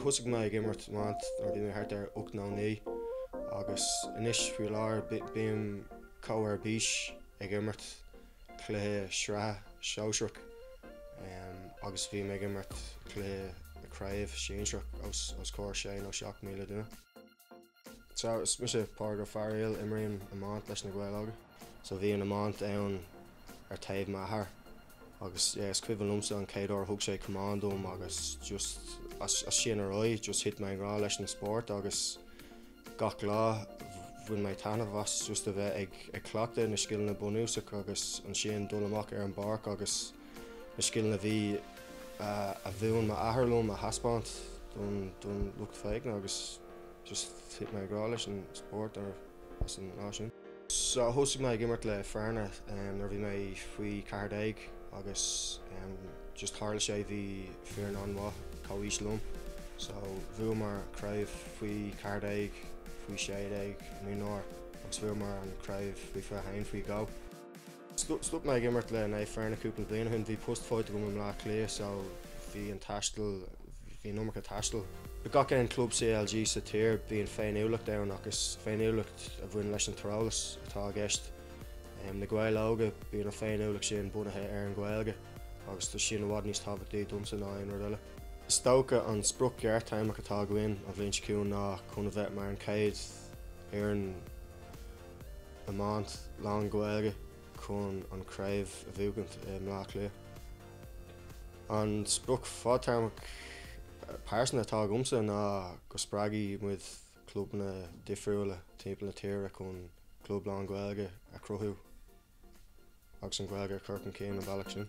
Thosaigh mé ag imirt iomáint nuair a bhí mé thart ar ocht nó naoi agus anois faoi láthair bím chomh ar bís ag imirt cluiche sraithe sóisearach agus bhím ag imirt cluiche craobh sinsearach os comhair sé nó seacht míle duine. So is mise Pádraig Ó Fearghail, imrím iomáint leis na Gaeil Óga. So bhí an iomáint ann ar taobh m'athar agus yeah is cuimhin liomsa an chéad uair a thug sé camán dom agus just as sin ar aghaidh just thit mé i ngrá leis an spórt agus gach lá bhain mé taitneamh as just a bheith ag cleachtadh na scileanna bunúsacha agus ansin dul amach ar an bpáirc agus na scileanna a bhí a mhúin m'athair liom a thaispeáint don lucht féachana agus just thit mé i ngrá leis an spórt ar as an lá sin. So thosaigh mé ag imirt le Fearna nuair a bhí mé faoi ceathair déag agus just tharla sé bhí foireann an-mhaith comhaois liom so bhuamar craobh faoi ceathair déag, faoi sé déag, mionúr agus bhuamar an chraobh faoi fiche haon faoi dhó. Stop mé ag imirt le Fearna cúpla bliain ó shin. Bhí post faighte agam i mBleá Cliath so bhí an taisteal, bhí an iomarca taistil. I gach aon club CLG sa tír bíonn féiniúlacht ann ach is féiniúlacht a bhain leis an dtreallús atá i gceist. Na Gaeil Óga, bíonn an féiniúlacht sin bunaithe ar an Ghaeilge agus tá sin i bhfad níos tábhachtaí domsa ná aon rud eile. Is dócha an sprioc ghearrthéarmach atá againn, an bhliain seo chugainn, ná chun a bheith mar an chéad fhoireann, iomáint lán-Ghaeilge chun an chraobh a bhuachaint i mBleá Cliath. An sprioc fadtéarmach pearsanta atá agamsa ná go spreagfaidh muid clubanna difriúla timpeall na tíre chun club lán-Ghaeilge a chruthú agus an Ghaeilge a chur chun cinn an bealach sin.